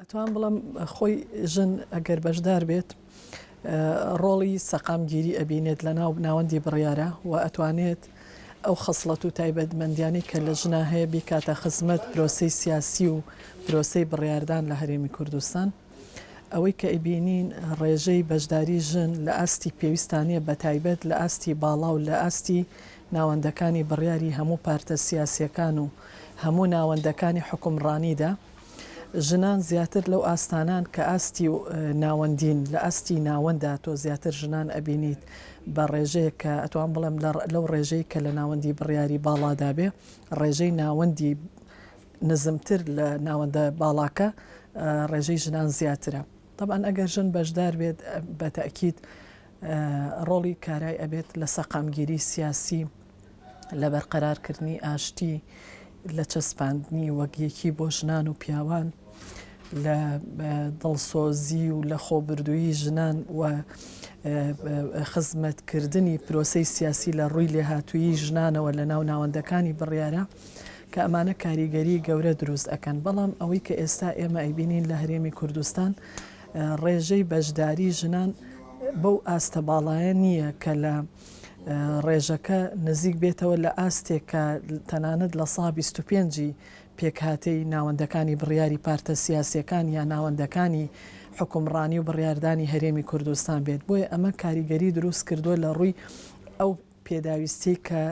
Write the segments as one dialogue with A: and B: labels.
A: ئەتوانم بڵێم خۆی ژن ئەگەر بەشدار بێت ڕۆڵی سەقامگیری ئەبینێت لە ناو ناوەندی بڕیارە و ئەتوانێت ئەو خەسڵەت و تایبەتمەندیانەی کە لە ژنا هەیە بیکاتە خزمەت پرۆسەی سیاسی و پرۆسەی بڕیاردان لە هەرێمی کوردستان. ئەوەی کە ئەیبینین ڕێژەی بەشداری ژن لە ئاستی پێویستانە بە تایبەت لە ئاستی باڵا و لە ئاستی ناوەندەکانی بڕیاری هەموو پارتە سیاسییەکان و هەموو ناوەندەکانی حوکمڕانیدا، ژنان زیاتر لەو ئاستانان کە ئاستی و ناوەندین لە ئاستی ناوەندا تۆ زیاتر ژنان ئەبینیت بە ڕێژەیەک کە ئەتوان بڵێم لەو ڕێژەی کە لە ناوەندی بڕیاری باڵادا بێ ڕێژەی ناوەندی نزمتر لە ناوەندە باڵاکە ڕێژەی ژنان زیاترە طبعا ئەگەر ژن بەشدار بێت بە تاکیید ڕۆڵی کارای ئەبێت لە سەقامگیری سیاسی لە بەرقەرارکردنی ئاشتی، لە چەسپاندنی وەک یەکی بۆ ژنان و پیاوان، لە دڵسۆزی و لە خۆبوردوویی ژنان و خزمەتکردنی پرۆسەی سیاسی لە ڕووی لێهاتوویی ژنانەوە لە ناو ناوەندەکانی بڕیارە کە ئەمانە کاریگەری گەورە دروست ئەکەن بەڵام ئەوەی کە ئێستا ئێمە ئەیبینین لە هەرێمی کوردستان ڕێژەی بەشداری ژنان بەو ئاستە باڵایە نییە کە لە ڕێژەکە نزیک بێتەوە لە ئاستێک کە تەنانەت لە سا بیست و پێنجی پێکهاتەی ناوەندەکانی بڕیاری پارتە سیاسییەکان یا ناوەندەکانی حکومڕانی و بڕیاردانی هەرێمی کوردستان بێت بۆیە ئەمە کاریگەری دروست کردووە لە ڕووی ئەو پێداویستی کە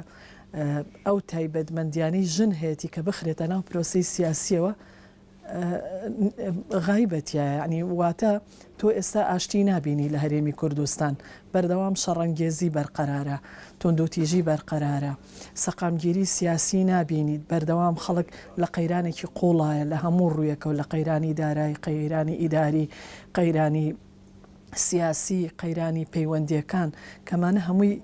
A: ئەو تایبەتمەندیانەی ژن هەیەی کە بخرێتە ناو پرۆسی سیاسیەوە غایبە تیایە یەعنی واتە تۆ ئێستا ئاشتی نابینی لە هەرێمی کوردستان بەردەوام شەڕەنگێزی بەرقەرارە توندوتیژی بەرقەرارە سەقامگیری سیاسی نابینیت بەردەوام خەڵک لە قەیرانێکی قوڵایە لە هەموو ڕوویەکەو لە قەیرانی دارای قەیرانی ئیداری قەیرانی سیاسی، قەیرانی پەیوەندییەکان، کەمانە هەمووی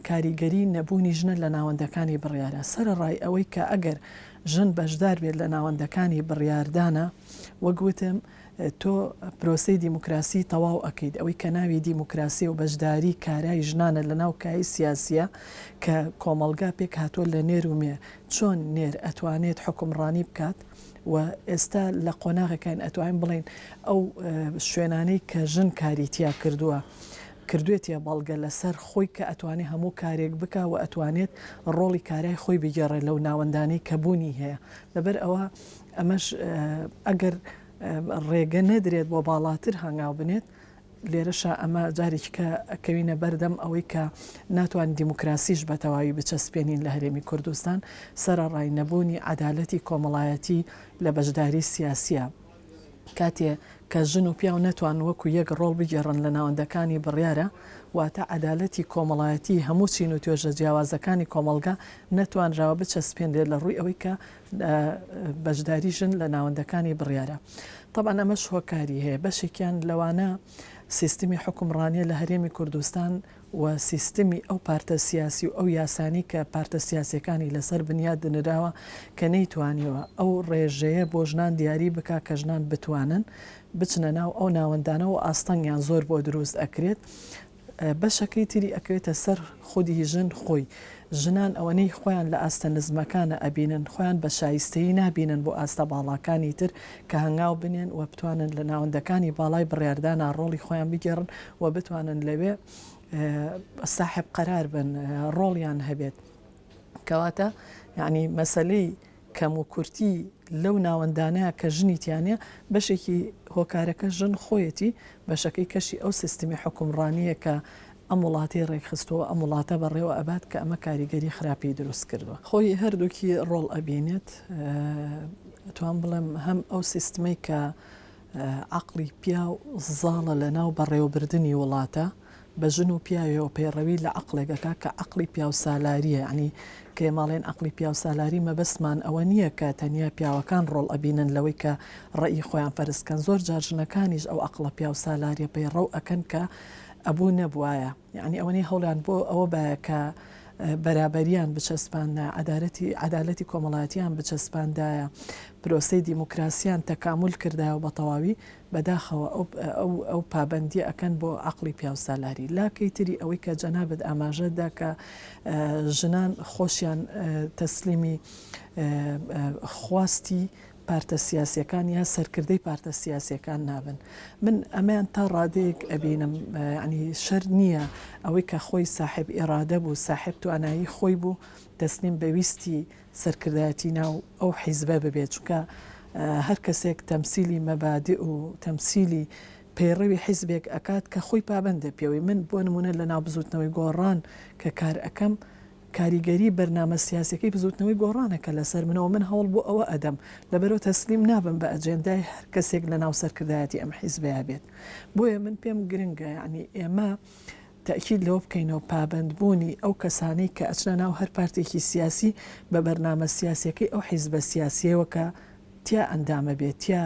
A: کاریگەری نەبوونی ژنە لە ناوەندەکانی بڕیارە. سەرەڕای ئەوەی کە ئەگەر ژن بەشدار بێت لە ناوەندەکانی بڕیاردانا، وەک وتم تۆ پرۆسەی دیموکراسی تەواو ئەکەیت، ئەوەی کە ناوی دیموکراسییە و بەشداری کارای ژنانە لە ناو کایەی سیاسییە کە کۆمەڵگا پێکهاتووە لە نێر و مێ، چۆن نێر ئەتوانێت حوکمڕانی بکات؟ و ئێستا لە قۆناغێکاین ئەتوانین بڵێین ئەو شوێنانەی کە ژن کاری تیا کردووە کردوێتە بەڵگە لەسەر خۆی کە ئەتوانێت هەموو کارێک بکە و ئەتوانێت ڕۆڵی کارای خۆی بگێڕێت لەو ناوەندانەی کە بوونی هەیە لەبەر ئەوە ئەمەش ئەگەر ڕێگە نەدرێت بۆ باڵاتر هەنگاو بنێت لێرەشا ئەمە جارێکیکە ئەکەوینە بەردەم ئەوەی کە ناتوانین دیموکراسیش بە تەواوی بچەسپێنین لە هەرێمی کوردستان، سەرەڕای نەبوونی عەدالەتی کۆمەڵایەتی لە بەشداری سیاسییە. کاتێ کە ژن و پیاو نەتوان وەکو یەک ڕۆڵ بگێڕن لە ناوەندەکانی بڕیارە، واتە عەدالەتی کۆمەڵایەتی هەموو چین و توێژە جیاوازەکانی کۆمەڵگا نەتوانراوە بچەسپێنرێت لە ڕووی ئەوەی کە لە بەشداری ژن لە ناوەندەکانی بڕیارە. تەبعەن ئەمەش هۆکاری هەیە، بەشێکیان لەوانە سیستمی حوکمڕانیە لە هەرێمی کوردستان و سیستمی ئەو پارتە سیاسی و ئەو یاسانەی کە پارتە سیاسیەکانی لەسەر بنیاد نراوە کە نەیتوانیوە ئەو ڕێژەیە بۆ ژنان دیاری بکا کە ژنان بتوانن بچنە ناو ئەو ناوەندانە و ئاستەنگیان زۆر بۆ دروست ئەکرێت بەشەکەی تری ئەکەوێتە سەر خودی ژن خۆی، ژنان ئەوەنەی خۆیان لە ئاستە نزمەکانە ئەبینن خۆیان بە شایستەیی نابینن بۆ ئاستە باڵاکانی تر کە هەنگاو بنێن و بتوانن لە ناوەندەکانی باڵای بڕیاردانا ڕۆڵی خۆیان بگێڕن و بتوانن لەوێ ساحێب قەرار بن ڕۆڵیان هەبێت کەواتە یەعنی مەسەلەی کەم و کورتی لەو ناوەندانەیە کە ژنی تیا نیە، بەشێکی هۆکارەکە ژن خۆیەتی، بەشەکەی کەشی ئەو سیستمی حوکمڕانیە کە ئەم وڵاتەی ڕێکخستووە، ئەم وڵاتە بەڕێوە ئەبات کە ئەمە کاریگەری خراپی دروست کردووە. خۆی هەردووکی ڕۆڵ ئەبینێت، ئەتوام بڵێم هەم ئەو سیستمەی کە عەقڵی پیاو زاڵە لە ناو بەڕێوەبردنی وڵاتە، بە ژن و پیاوێەوە پەیڕەوی لە عەقڵێک ئەکا کە عەقڵی پیاوسالاریە یەعنی کە ئێمە ئەڵێن عەقڵی پیاوسالاری مەبەستمان ئەوە نیە کە تەنیا پیاوەکان ڕۆڵ ئەبینن لەوەی کە ڕەئی خۆیان فەرز کەن زۆر جار ژنەکانیش ئەو عەقڵە پیاوسالاریە پەیڕەو ئەکەن کە ئەبوو نەبوایە یەعنی ئەوەنەی هەوڵیان بۆ ئەوە بایە کە بەرابەریان بچەسپاندە عەدالەتی عەدالەتی کۆمەڵاتیان بچەسپاندایە پرۆسەی دیموکراسیان تەکامول کردایەوە بە تەواوی بەداخەوە ئەو ئەو پابەندیە ئەکەن بۆ عەقڵی پیاوسالاری لاکەی تری ئەوەی کە جەنابت ئاماژەت دا کە ژنان خۆشیان تەسلیمی خواستی پارتە سیاسیەکان یا سەرکردەی پارتە سیاسیەکان نابن من ئەمەیان تا ڕادەیەک ئەبینم ینی شەر نییە ئەوەی کە خۆی ساحب ئێرادە بوو ساحب توانایی خۆی بوو تەسلیم بەویستی سەرکردایەتی ناو ئەو حیزبە ببێت چونکە هەر کەسێک تەمسیلی مەبادئ و تەمسیلی پەیڕەوی حیزبێک ئەکات کە خۆی پابەندە پێوەی من بۆ نمونە لە ناو بزوتنەوەی گۆڕان کە کار ئەکەم کاریگەری بەرنامە سیاسیەکەی بزوتنەوەی گۆڕانە کە لەسەر منەوە من هەوڵ بۆ ئەوە ئەدەم لەبەرو تەسلیم نابم بە ئەجێندای هەر کەسێک لە ناو سەرکردایەتی ئەم حیزبەیە بێت بۆیە من پێم گرنگە یانی ئێمە تەئکید لەوە بکەینەوە پابەندبوونی ئەو کەسانەی کە ئەچنە ناو هەر پارتێکی سیاسی بە بەرنامە سیاسیەکەی ئەو حیزبە سیاسیەوە کە تیا ئەندامە بێ تیا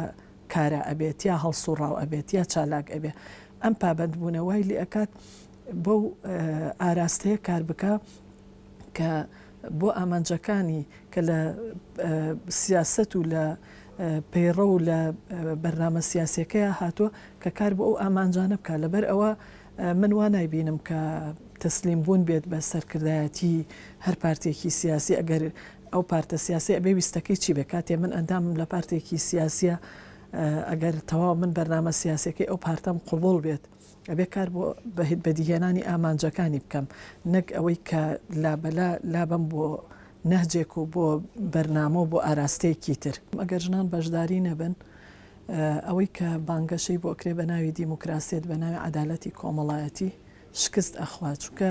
A: کارا ئەبێ تیا هەڵسوڕاو ئەبێ تیا چالاک ئەبێ ئەم پابەندبوونە وای لێ ئەکات بەو ئاراستەیە کار بکا کە بۆ ئامانجەکانی کە لە سیاست و لە پەیڕە و لە بەرنامە سیاسەکەی هاتووە کە کار بۆ ئەو ئامانجانە بکە لەبەر ئەوە من وا نایبینم کە تەسلیم بوون بێت بە سەرکردایەتی هەر پارتێکی سیاسی ئەگەر ئەو پارتە سیاسیە ئەبێ ویستەکەی چی بێ کاتێ من ئەندامم لە پارتێکی سیاسیە ئەگەر تەواو من بەرنامە سیاسەکەی ئەو پارتەم قوبوڵ بێت ئەبێ کار بۆ بەهت بەدیهێنانی ئامانجەکانی بکەم نەک ئەوەی کە لابەلا لابم بۆ نەهجێک و بۆ بەرنامە و بۆ ئاراستەیەکی تر ئەگەر ژنان بەشداری نەبن ئەوەی کە بانگەشەی بۆ ئەکرێ بە ناوی دیموکراسیەت بە ناوی عەدالەتی کۆمەڵایەتی شکست ئەخوا چونکە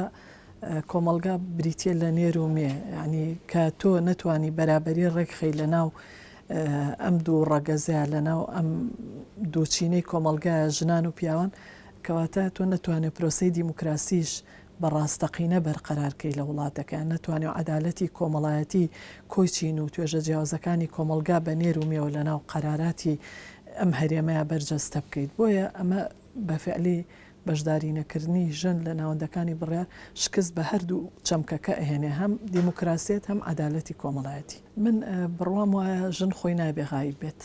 A: کۆمەڵگا بریتە لە نێر و مێ یعنی کە تۆ نەتوانی بەرابەری ڕێکخی لە ناو ئەم دوو ڕەگەزە لە ناو ئەم دووچینەی کۆمەلگایە ژنان و پیاوان کەواتە تۆ نەتوانێت پرۆسی دیموکراسیش بە ڕاستەقینە بەرقەرار کەی لە وڵاتەکە، نەتوانی عەدالەتی کۆمەڵایەتی کۆی چین و توێژە جیاوزەکانی کۆمەڵگا بە نێر و مێوە لە ناو قەراراتی ئەم هەرێمەیا بەرجەستە بکەیت، بۆیە ئەمە بە فعلی بەشداری نەکردنی ژن لە ناوەندەکانی بڕیار شکست بە هەردوو چەمکەکە ئەهێنێ هەم دیموکراسیەت هەم عەدالەتی کۆمەڵایەتی. من بڕوام وایە ژن خۆی نابێ غائیب بێت،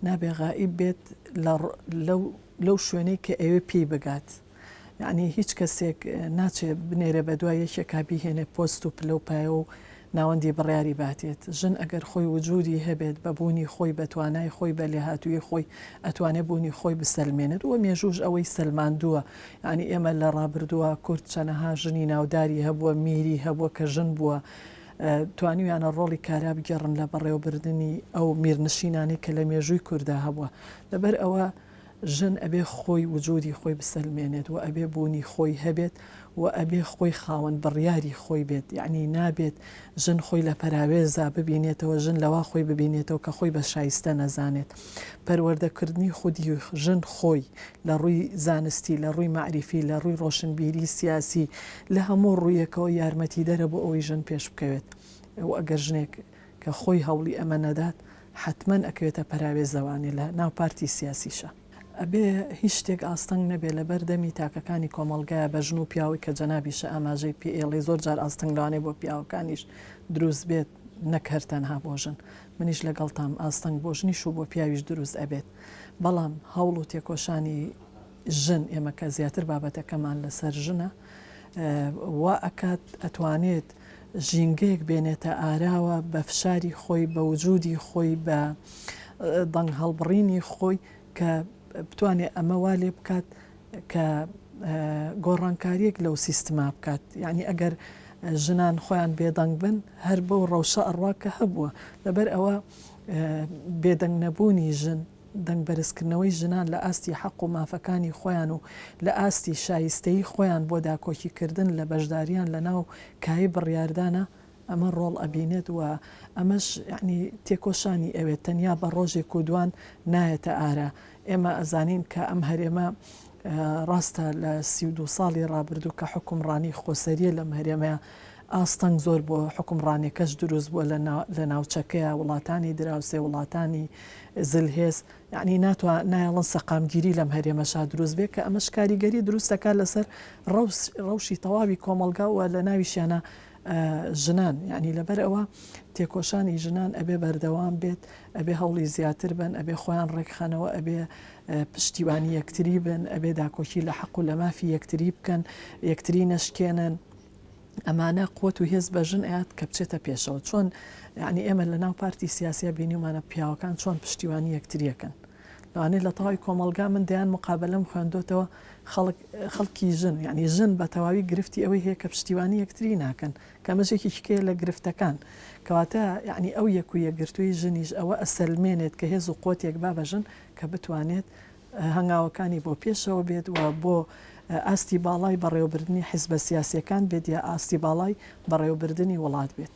A: نابێ غائیب بێت لە لەو لەو شوێنەی کە ئەوێ پێی بگات، یەعنی هیچ کەسێک ناچێ بنێرێ بە دوای یەکێکا بیهێنێ پۆست و پلە و پایە و ناوەندی بڕیاری باتێت. ژن ئەگەر خۆی وجودی هەبێت بە بوونی خۆی بە توانای خۆی بە لێهاتوویی خۆی ئەتوانێ بوونی خۆی بسەلمێنێت و مێژووش ئەوەی سەلماندووە یەعنی ئێمە لە ڕابردووا کورد چەنەها ژنی ناوداری هەبووە میری هەبووە کە ژن بووە توانیویانە ڕۆڵی کارا بگێڕن لە بەڕێوەبردنی ئەو میرنشینانەی کە لە مێژووی کوردا هەبووە لەبەر ئەوە ژن ئەبێ خۆی وجودی خۆی بسەلمێنێت و ئەبێ بوونی خۆی هەبێت و ئەبێ خۆی خاوەن بڕیاری خۆی بێت یەعنی نابێت ژن خۆی لە پەراوێزا ببینێتەوە ژن لەوا خۆی ببینێتەوە کە خۆی بە شایستە نەزانێت پەروەردە کردنی خودی ژن خۆی لە ڕووی زانستی لە ڕووی مەعریفی لە ڕووی ڕۆشنبیری سیاسی لە هەموو ڕوویەکەوە یارمەتیدەرە بۆ ئەوەی ژن پێش بکەوێت و ئەگەر ژنێک کە خۆی هەوڵی ئەمە نەدات حەتمەن ئەکەوێتە پەراوێزەوانی لە ناو پارتی سیاسیشا ئەبێ هیچ شتێک ئاستەنگ نەبێ لەبەر دەمی تاکەکانی کۆمەڵگایە بە ژن و پیاوی کە جەنابیشە ئاماژەی پێ ئێڵی زۆر جار ئاستەنگ لەوانەیە بۆ پیاوەکانیش دروست بێت نەک هەر تەنها بۆ ژن منیش لەگەڵتام ئاستەنگ بۆ ژنیش و بۆ پیاویش دروست ئەبێت بەڵام هەوڵ و تێکۆشانی ژن ئێمە کە زیاتر بابەتەکەمان لەسەر ژنە وا ئەکات ئەتوانێت ژینگەیەک بێنێتە ئاراوە بە فشاری خۆی بە وجودی خۆی بە دەنگ هەڵبڕینی خۆی کە بتوانێت ئەمە وا لێ بکات کە گۆڕانکاریەک لەو سیستما بکات یعنی ئەگەر ژنان خۆیان بێدەنگ بن هەر بەو ڕەوشە ئەڕوا کە هەبووە لەبەر ئەوە بێدەنگ نەبوونی ژن دەنگ بەرزکردنەوەی ژنان لە ئاستی حەق و مافەکانی خۆیان و لە ئاستی شایستەیی خۆیان بۆ داکۆکی کردن لە بەشداریان لە ناو کایەی بڕیاردانە ئەمە ڕۆڵ ئەبینێت و ئەمەش یەعنی تێکۆشانی ئەوێت تەنیا بە ڕۆژێک و دوان نایەتە ئارا ئێمە ئەزانین کە ئەم هەرێمە ڕاستە لە سی و دوو ساڵی ڕابردوو کە حوکمڕانی خۆسەریە لەم هەرێمە ئاستەنگ زۆر بۆ حوکمڕانێکەش دروست بووە لە لە ناوچەکەیا وڵاتانی دراوسێ وڵاتانی زل هێز یعنی ناتوا نایەڵن سەقامگیری لەم هەرێمەشا دروست بێ کە ئەمەش کاریگەری دروست دەکات لەسەر ڕەوس ڕەوشی تەواوی کۆمەڵگا و لە ناویشیانە ژنان یعنی لەبەر ئەوە تێکۆشانی ژنان ئەبێ بەردەوام بێت ئەبێ هەوڵی زیاتر بن ئەبێ خۆیان ڕێکخەنەوە ئەبێ پشتیوانی یەکتری بن ئەبێ داکۆکی لە حەق و لە مافی یەکتری بکەن یەکتری نەشکێنن ئەمانە قوت و هێز بە ژن ئەیات کە بچێتە پێشەوە چۆن یعنی ئێمە لە ناو پارتی سیاسیا بینیمانە پیاوەکان چۆن پشتیوانی یەکتریەکەن لەوانەیە لە تەواوی کۆمەلگا من دەیان مقابلەم خوێندۆتەوە خەڵکی ژن یعنی ژن بە تەواوی گرفتی ئەوەی هەیە کە پشتیوانی یەکتری ناکەن کەمەژێکی شکێ لە گرفتەکان کەواتە یعنی ئەو یەک و یەکگرتووی ژنیش ئەوە ئەسەلمێنێت کە هێز و قوتێک با بەژن کە بتوانێت هەنگاوەکانی بۆ پێشەوە بێت و بۆ ئاستی باڵای بەڕێوەبردنی حیزبە سیاسییەکان بێت یا ئاستی باڵای بەڕێوەبردنی وڵات بێت.